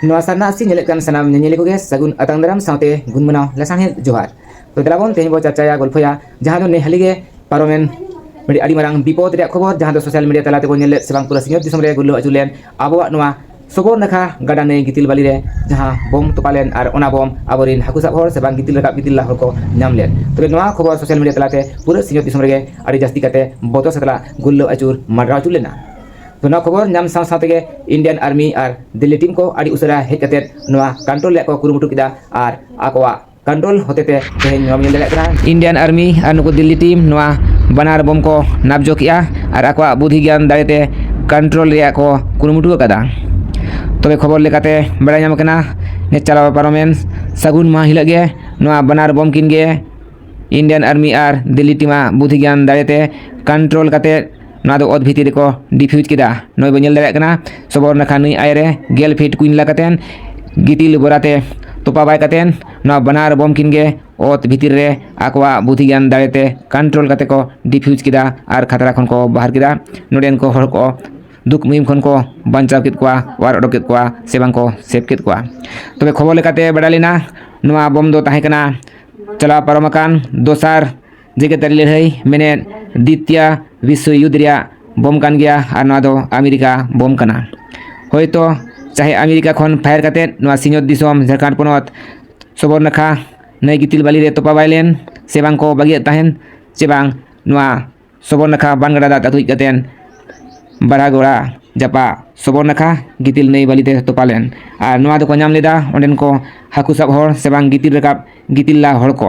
ᱱᱚᱣᱟ ᱥᱟᱨᱱᱟ ᱟᱥᱤ ᱧᱮᱞᱮᱫ ᱠᱟᱱ ᱥᱟᱱᱟᱢ ᱧᱮᱧᱮᱞᱤ ᱠᱚᱜᱮ ᱥᱟᱹᱜᱩᱱ ᱟᱛᱟᱝ ᱫᱟᱨᱟᱢ ᱥᱟᱶᱛᱮ ᱜᱩᱱ ᱢᱟᱱᱟᱣ ᱞᱟᱥᱟᱬᱦᱮᱫ ᱡᱚᱦᱟᱨ ᱛᱚ ᱫᱮᱞᱟ ᱵᱚᱱ ᱛᱮᱦᱮᱧ ᱵᱚ ᱪᱟᱨᱪᱟᱭᱟ ᱜᱚᱞᱯᱷᱚᱭᱟ ᱡᱟᱦᱟᱸ ᱫᱚ ᱱᱮ ᱦᱟᱹᱞᱤ ᱜᱮ ᱯᱟᱨᱚᱢᱮᱱ ᱢᱤᱫ ᱟᱹᱰᱤ ᱢᱟᱨᱟᱝ ᱵᱤᱯᱚᱫ ᱨᱮᱭᱟᱜ ᱠᱷᱚᱵᱚᱨ ᱡᱟᱦᱟᱸ ᱫᱚ ᱥᱳᱥᱟᱞ ᱢᱤᱰᱤᱭᱟ ᱛᱟᱞᱟ ᱛᱮᱵᱚᱱ ᱧᱮᱞ ᱞᱮᱫ ᱥᱮ ᱵᱟᱝ ᱯᱩᱨᱟᱹ ᱥᱤᱧᱚᱛ ᱫᱤᱥᱚᱢ ᱨᱮ ᱜᱩᱨᱞᱟᱹᱣ ᱟᱹᱪᱩᱨ ᱞᱮᱱ ᱟᱵᱚᱣᱟᱜ ᱱᱚᱣᱟ ᱥᱚᱵᱚᱨ ᱱᱟᱠᱷᱟ ᱜᱟᱰᱟ ᱱᱟᱹᱭ ᱜᱤᱛᱤᱞ ᱵᱟᱹᱞᱤ ᱨᱮ ᱡᱟᱦᱟᱸ ᱵᱚᱢ ᱛᱚᱯᱟ ᱞᱮᱱ ᱟᱨ ᱚᱱᱟ ᱵᱚᱢ ᱟᱵᱚᱨᱮᱱ ᱦᱟᱹᱠᱩ ᱥᱟᱵ ᱦᱚᱲ ᱥᱮ ᱵᱟᱝ ᱜᱤᱛᱤᱞ ᱨᱟᱠᱟᱵ ᱜᱤᱛᱤᱞ ᱞᱟ ᱦᱚᱲ ᱠᱚ ᱧᱟᱢ ᱞᱮᱫ ᱛᱚᱵᱮ ᱱᱚᱣᱟ ᱠᱷᱚᱵᱚᱨ ᱥᱳᱥᱟᱞ ᱢᱤᱰᱤᱭᱟ ᱛᱟᱞᱟᱛᱮ ᱯᱩᱨᱟᱹ ᱥᱤᱧᱚᱛ ᱫᱤᱥᱚᱢ ᱨᱮᱜᱮ ᱟᱹᱰᱤ ᱡᱟᱹᱥᱛᱤ ᱠᱟᱛᱮ ᱵᱚᱛᱚᱨ ᱥᱟᱛᱞᱟ ᱜᱩᱨᱞᱟᱹᱣ ᱟᱹᱪᱩᱨ ᱢᱟᱰᱨᱟᱣ ᱟᱹᱪᱩᱨ ᱞᱮᱱᱟ ᱛᱚ ᱱᱚᱣᱟ ᱠᱷᱚᱵᱚᱨ ᱧᱟᱢ ᱥᱟᱶ ᱥᱟᱶ ᱛᱮᱜᱮ ᱤᱱᱰᱤᱭᱟᱱ ᱟᱨᱢᱤ ᱟᱨ ᱫᱤᱞᱞᱤ ᱴᱤᱢ ᱠᱚ ᱟᱹᱰᱤ ᱩᱥᱟᱹᱨᱟ ᱦᱮᱡ ᱠᱟᱛᱮ ᱱᱚᱣᱟ ᱠᱚᱱᱴᱨᱳᱞ ᱨᱮᱭᱟᱜ ᱠᱚ ᱠᱩᱨᱩᱢᱩᱴᱩ ᱠᱮᱫᱟ ᱟᱨ ᱟᱠᱚᱣᱟᱜ ᱠᱚᱱᱴᱨᱳᱞ ᱦᱚᱛᱮᱛᱮ ᱛᱮᱦᱮᱧ ᱱᱚᱣᱟ ᱧᱮᱞ ᱫᱟᱲᱮᱭᱟᱜ ᱠᱟᱱᱟ ᱤᱱᱰᱤᱭᱟᱱ ᱟᱨᱢᱤ ᱟᱨ ᱱᱩᱠᱩ ᱫᱤᱞᱞᱤ ᱴᱤᱢ ᱱᱚᱣᱟ ᱵᱟᱱᱟᱨ ᱵᱚᱢ ᱠᱚ ᱱᱟᱵᱡᱚ ᱠᱮᱜᱼᱟ ᱟᱨ ᱟᱠᱚᱣᱟᱜ ᱵᱩᱫᱷᱤ ᱜᱮᱭᱟᱱ ᱫᱟᱲᱮᱛᱮ ᱠᱚᱱᱴᱨᱳᱞ ᱨᱮᱭᱟᱜ ᱠᱚ ᱠᱩᱨᱩᱢᱩᱴᱩ ᱟᱠᱟᱫᱟ ᱛᱚᱵᱮ ᱠᱷᱚᱵᱚᱨ ᱞᱮᱠᱟᱛᱮ ᱵᱟᱲᱟᱭ ᱧᱟᱢ ᱠᱟᱱᱟ ᱪᱟᱞᱟᱣ ᱯᱟᱨᱚᱢᱮᱱ ᱥᱟᱹᱜᱩᱱ ᱢᱟᱦᱟ ᱦᱤᱞᱳᱜ ᱜᱮ ᱱᱚᱣᱟ ᱵᱟᱱᱟᱨ ᱵᱚᱢ ᱠᱤᱱ ᱜᱮ ᱤᱱᱰᱤᱭᱟᱱ ᱟᱨᱢᱤ ᱟᱨ ᱫᱤᱞᱞᱤ ᱴᱤᱢᱟᱜ ᱵᱩᱫᱷᱤ ᱜᱮᱭᱟᱱ ᱫᱟᱲᱮᱛᱮ ᱠᱚᱱᱴᱨᱳᱞ ᱠᱟᱛᱮ ᱱᱚᱣᱟ ᱫᱚ ᱚᱛ ᱵᱷᱤᱛᱤᱨ ᱨᱮᱠᱚ ᱰᱤᱯᱷᱤᱭᱩᱡᱽ ᱠᱮᱫᱟ ᱱᱚᱜᱼᱚᱭ ᱵᱚᱱ ᱧᱮᱞ ᱫᱟᱲᱮᱭᱟᱜ ᱠᱟᱱᱟ ᱥᱚᱵᱚᱨ ᱱᱟᱠᱷᱟ ᱱᱟᱹᱭ ᱟᱭ ᱨᱮ ᱜᱮᱞ ᱯᱷᱤᱴ ᱠᱩᱧ ᱞᱟ ᱠᱟᱛᱮᱫ ᱜᱤᱛᱤᱞ ᱵᱚᱨᱟᱛᱮ ᱛᱚᱯᱟ ᱵᱟᱭ ᱠᱟᱛᱮᱫ ᱱᱚᱣᱟ ᱵᱟᱱᱟᱨ ᱵᱚᱢ ᱠᱤᱱ ᱜᱮ ᱚᱛ ᱵᱷᱤᱛᱤᱨ ᱨᱮ ᱟᱠᱚᱣᱟᱜ ᱵᱩᱫᱷᱤ ᱜᱮᱭᱟᱱ ᱫᱟᱲᱮᱛᱮ ᱠᱚᱱᱴᱨᱳᱞ ᱠᱟᱛᱮ ᱠᱚ ᱰᱤᱯᱷᱤᱭᱩᱡᱽ ᱠᱮᱫᱟ ᱟᱨ ᱠᱷᱟᱛᱨᱟ ᱠᱷᱚᱱ ᱠᱚ ᱵᱟᱦᱟᱨ ᱠᱮᱫᱟ ᱱᱚᱰᱮᱱ ᱠᱚ ᱦᱚᱲ ᱠᱚ ᱫᱩᱠ ᱢᱩᱦᱤᱢ ᱠᱷᱚᱱ ᱠᱚ ᱵᱟᱧᱪᱟᱣ ᱠᱮᱫ ᱠᱚᱣᱟ ᱚᱣᱟᱨ ᱚᱰᱚᱠ ᱠᱮᱫ ᱠᱚᱣᱟ ᱥᱮ ᱵᱟᱝ ᱠᱚ ᱥᱮᱵᱷ ᱠᱮᱫ ᱠᱚᱣᱟ ᱛᱚᱵᱮ ᱠᱷᱚᱵᱚᱨ ᱞᱮᱠᱟᱛᱮ ᱵᱟᱰᱟᱭ ᱞᱮᱱᱟ ᱱᱚᱣᱟ ᱵᱚᱢ ᱫᱚ ᱛᱟᱦᱮᱸ ᱠᱟᱱᱟ ᱪᱟᱞᱟᱣ ᱯᱟᱨᱚᱢ ᱟᱠᱟᱱ ᱫᱚᱥᱟᱨ ᱡᱮᱜᱮᱛᱟᱹᱨᱤ ᱞᱟᱹᱲᱦᱟᱹᱭ ᱢᱮᱱᱮᱫ ᱫᱤᱛᱭᱟ ᱵᱤᱥᱥᱚ ᱭᱩᱫᱽ ᱨᱮᱭᱟᱜ ᱵᱚᱢ ᱠᱟᱱ ᱜᱮᱭᱟ ᱟᱨ ᱱᱚᱣᱟ ᱫᱚ ᱟᱢᱮᱨᱤᱠᱟ ᱵᱚᱢ ᱠᱟᱱᱟ ᱦᱳᱭᱛᱳ ᱪᱟᱦᱮ ᱟᱢᱮᱨᱤᱠᱟ ᱠᱷᱚᱱ ᱯᱷᱟᱭᱟᱨ ᱠᱟᱛᱮ ᱱᱚᱣᱟ ᱥᱤᱧᱚᱛ ᱫᱤᱥᱚᱢ ᱡᱷᱟᱲᱠᱷᱚᱸᱰ ᱯᱚᱱᱚᱛ ᱥᱚᱵᱚᱨ ᱱᱟᱠᱷᱟ ᱱᱟᱹᱭ ᱜᱤᱛᱤᱞ ᱵᱟᱹᱞᱤ ᱨᱮ ᱛᱚᱯᱟ ᱵᱟᱭ ᱞᱮᱱ ᱥᱮ ᱵᱟᱝ ᱠᱚ ᱵᱟᱹᱜᱤᱭᱟᱫ ᱛᱟᱦᱮᱱ ᱥᱮ ᱵᱟᱝ ᱱᱚᱣᱟ ᱥᱚᱵᱚᱨ ᱱᱟᱠᱷᱟ ᱵᱟᱱ ᱜᱟᱰᱟ ᱫᱟᱜ ᱟᱹᱛᱩ ᱦᱮᱡ ᱠᱟᱛᱮ ᱵᱟᱨᱟ ᱜᱚᱲᱟ ᱡᱟᱯᱟ ᱥᱚᱵᱚᱨ ᱱᱟᱠᱷᱟ ᱜᱤᱛᱤᱞ ᱱᱟᱹᱭ ᱵᱟᱹᱞᱤ ᱛᱮ ᱛᱚᱯᱟ ᱞᱮᱱ ᱟᱨ ᱱᱚᱣᱟ ᱫᱚᱠᱚ ᱧᱟᱢ ᱞᱮᱫᱟ ᱚᱸᱰᱮᱱ ᱠᱚ ᱦᱟᱹᱠᱩ ᱥᱟᱵ ᱦᱚᱲ ᱥᱮ ᱵᱟᱝ ᱜᱤᱛᱤᱞ ᱨᱟᱠᱟᱵ ᱜᱤᱛᱤᱞ ᱞᱟ ᱦᱚᱲ ᱠᱚ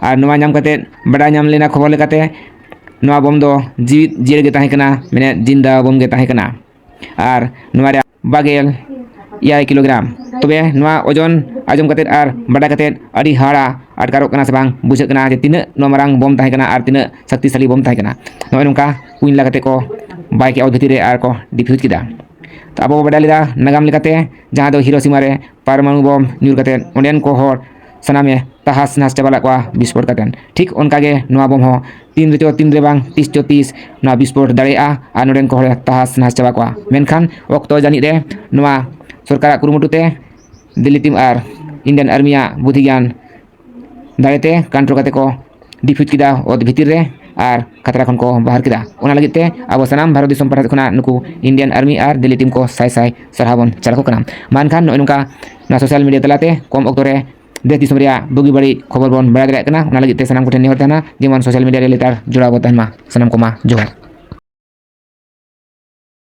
ᱟᱨ ᱱᱚᱣᱟ ᱧᱟᱢ ᱠᱟᱛᱮ ᱵᱟᱰᱟᱭ ᱧᱟᱢ ᱞᱮᱱᱟ ᱠᱷᱚᱵᱚᱨ ᱞᱮᱠᱟᱛᱮ ᱱᱚᱣᱟ ᱵᱳᱢ ᱫᱚ ᱡᱤᱣᱤᱫ ᱡᱤᱭᱟᱹᱲ ᱜᱮ ᱛᱟᱦᱮᱸ ᱠᱟᱱᱟ ᱢᱟᱱᱮ ᱡᱤᱱᱫᱟ ᱵᱳᱢ ᱜᱮ ᱛᱟᱦᱮᱸ ᱠᱟᱱᱟ ᱟᱨ ᱱᱚᱣᱟ ᱨᱮᱭᱟᱜ ᱵᱟᱜᱮᱞ ᱮᱭᱟᱭ ᱠᱤᱞᱳᱜᱨᱟᱢ ᱛᱚᱵᱮ ᱱᱚᱣᱟ ᱳᱡᱚᱱ ᱟᱸᱡᱚᱢ ᱠᱟᱛᱮ ᱟᱨ ᱵᱟᱰᱟᱭ ᱠᱟᱛᱮ ᱟᱹᱰᱤ ᱦᱟᱦᱟᱲᱟ ᱟᱴᱠᱟᱨᱚᱜ ᱠᱟᱱᱟ ᱥᱮ ᱵᱟᱝ ᱵᱩᱡᱷᱟᱹᱜ ᱠᱟᱱᱟ ᱡᱮ ᱛᱤᱱᱟᱹᱜ ᱱᱚᱣᱟ ᱢᱟᱨᱟᱝ ᱵᱳᱢ ᱛᱟᱦᱮᱸ ᱠᱟᱱᱟ ᱟᱨ ᱛᱤᱱᱟᱹᱜ ᱥᱚᱠᱛᱤᱥᱟᱞᱤ ᱵᱳᱢ ᱛᱟᱦᱮᱸ ᱠᱟᱱᱟ ᱱᱚᱜᱼᱚᱭ ᱱᱚᱝᱠᱟ ᱠᱩᱧ ᱞᱟ ᱠᱟᱛᱮ ᱠᱚ ᱵᱟᱭ ᱠᱮᱜᱼᱟ ᱚᱛ ᱵᱷᱤᱛᱤᱨ ᱨᱮ ᱟᱨ ᱠᱚ ᱰᱤᱯᱷᱤᱭᱩᱡᱽ ᱠᱮᱫᱟ ᱛᱚ ᱟᱵᱚ ᱵᱚᱱ ᱵᱟᱰᱟᱭ ᱞᱮᱫᱟ ᱱᱟᱜᱟᱢ ᱞᱮᱠᱟᱛᱮ ᱡᱟᱦᱟᱸ ᱫᱚ ᱦᱤᱨᱳᱥᱤᱢᱟ ᱨᱮ ᱯᱟᱨᱢᱟᱱᱩ ᱵᱚᱢ ᱧᱩᱨ ᱠᱟᱛᱮ ᱚᱸᱰᱮᱱ ᱠᱚ ᱦᱚᱲ ᱥᱟᱱᱟᱢᱮ ᱛᱟᱦᱟᱥ ᱱᱟᱥ ᱪᱟᱵᱟ ᱞᱮᱫ ᱠᱚᱣᱟ ᱵᱤᱥᱯᱷᱳᱨ ᱠᱟᱛᱮ ᱴᱷᱤᱠ ᱚᱱᱠᱟ ᱜᱮ ᱱᱚᱣᱟ ᱵᱚᱢ ᱦᱚᱸ ᱛᱤᱱ ᱨᱮᱪᱚ ᱛᱤᱱ ᱨᱮ ᱵᱟᱝ ᱛᱤᱥ ᱪᱚ ᱛᱤᱥ ᱱᱚᱣᱟ ᱵᱤᱥᱯᱷᱳᱨ ᱫᱟᱲᱮᱭᱟᱜᱼᱟ ᱟᱨ ᱱᱚᱸᱰᱮᱱ ᱠᱚ ᱦᱚᱲ ᱛᱟᱦᱟᱥ ᱱᱟᱥ ᱪᱟᱵᱟ ᱠᱚᱣᱟ ᱢᱮᱱᱠᱷᱟᱱ ᱚᱠᱛᱚ ᱡᱟᱹᱱᱤᱡ ᱨᱮ ᱱᱚᱣᱟ ᱥᱚᱨᱠᱟᱨᱟᱜ ᱠᱩᱨᱩᱢᱩᱴᱩ ᱛᱮ ᱫᱤᱞᱞᱤ ᱴᱤᱢ ᱟᱨ ᱤᱱᱰᱤᱭᱟᱱ ᱟᱨᱢᱤᱭᱟᱜ ᱵᱩᱫᱷᱤ ᱜᱮᱭᱟᱱ ᱫᱟᱲᱮᱛᱮ ᱠᱟᱱᱴᱨᱳ ᱠᱟᱛᱮ ᱠᱚ ᱰᱤᱯᱷᱤᱴ ᱠᱮᱫᱟ ᱚᱛ ᱵᱷᱤᱛᱤᱨ ᱨᱮ ᱟᱨ ᱠᱷᱟᱛᱨᱟ ᱠᱷᱚᱱ ᱠᱚ ᱵᱟᱦᱟᱨ ᱠᱮᱫᱟ ᱚᱱᱟ ᱞᱟᱹᱜᱤᱫ ᱛᱮ ᱟᱵᱚ ᱥᱟᱱᱟᱢ ᱵᱷᱟᱨᱚᱛ ᱫᱤᱥᱚᱢ ᱯᱟᱦᱴᱟ ᱠᱷᱚᱱᱟᱜ ᱱᱩᱠᱩ ᱤᱱᱰᱤᱭᱟᱱ ᱟᱨᱢᱤ ᱟᱨ ᱫᱤᱞᱞᱤ ᱴᱤᱢ ᱠᱚ ᱥᱟᱭ ᱥᱟᱭ ᱥᱟᱨᱦᱟᱣ ᱵᱚᱱ ᱪᱟᱞ ᱟᱠᱚ ᱠᱟᱱᱟ ᱢᱟ ᱮᱱᱠᱷᱟᱱ ᱱᱚᱜᱼᱚᱭ ᱱᱚᱝᱠᱟ ᱱᱚᱣᱟ ᱥᱳᱥᱟᱞ ᱢᱤᱰᱤᱭᱟ ᱛᱟᱞᱟᱛᱮ ᱠᱚᱢ ᱚᱠᱛᱚ ᱨᱮ ᱫᱮᱥ ᱫᱤᱥᱚᱢ ᱨᱮᱭᱟᱜ ᱵᱩᱜᱤ ᱵᱟᱹᱲᱤᱡ ᱠᱷᱚᱵᱚᱨ ᱵᱚᱱ ᱵᱟᱲᱟᱭ ᱫᱟᱲᱮᱭᱟᱜ ᱠᱟᱱᱟ ᱚᱱᱟ ᱞᱟᱹᱜᱤᱫ ᱛᱮ ᱥᱟᱱᱟᱢ ᱠᱚᱴᱷᱮᱱ ᱱᱮᱦᱚᱨ ᱛᱟᱦᱮᱱᱟ ᱡᱮᱢᱚᱱ ᱥᱳᱥᱟᱞ ᱢᱤᱰᱤᱭᱟ ᱨᱮ ᱞᱮᱛᱟᱲ ᱡᱚᱲᱟᱣ ᱵᱚᱱ ᱛᱟᱦᱮᱱ ᱢᱟ ᱥᱟᱱᱟᱢ ᱠᱚᱢᱟ ᱡᱚᱦᱟᱨ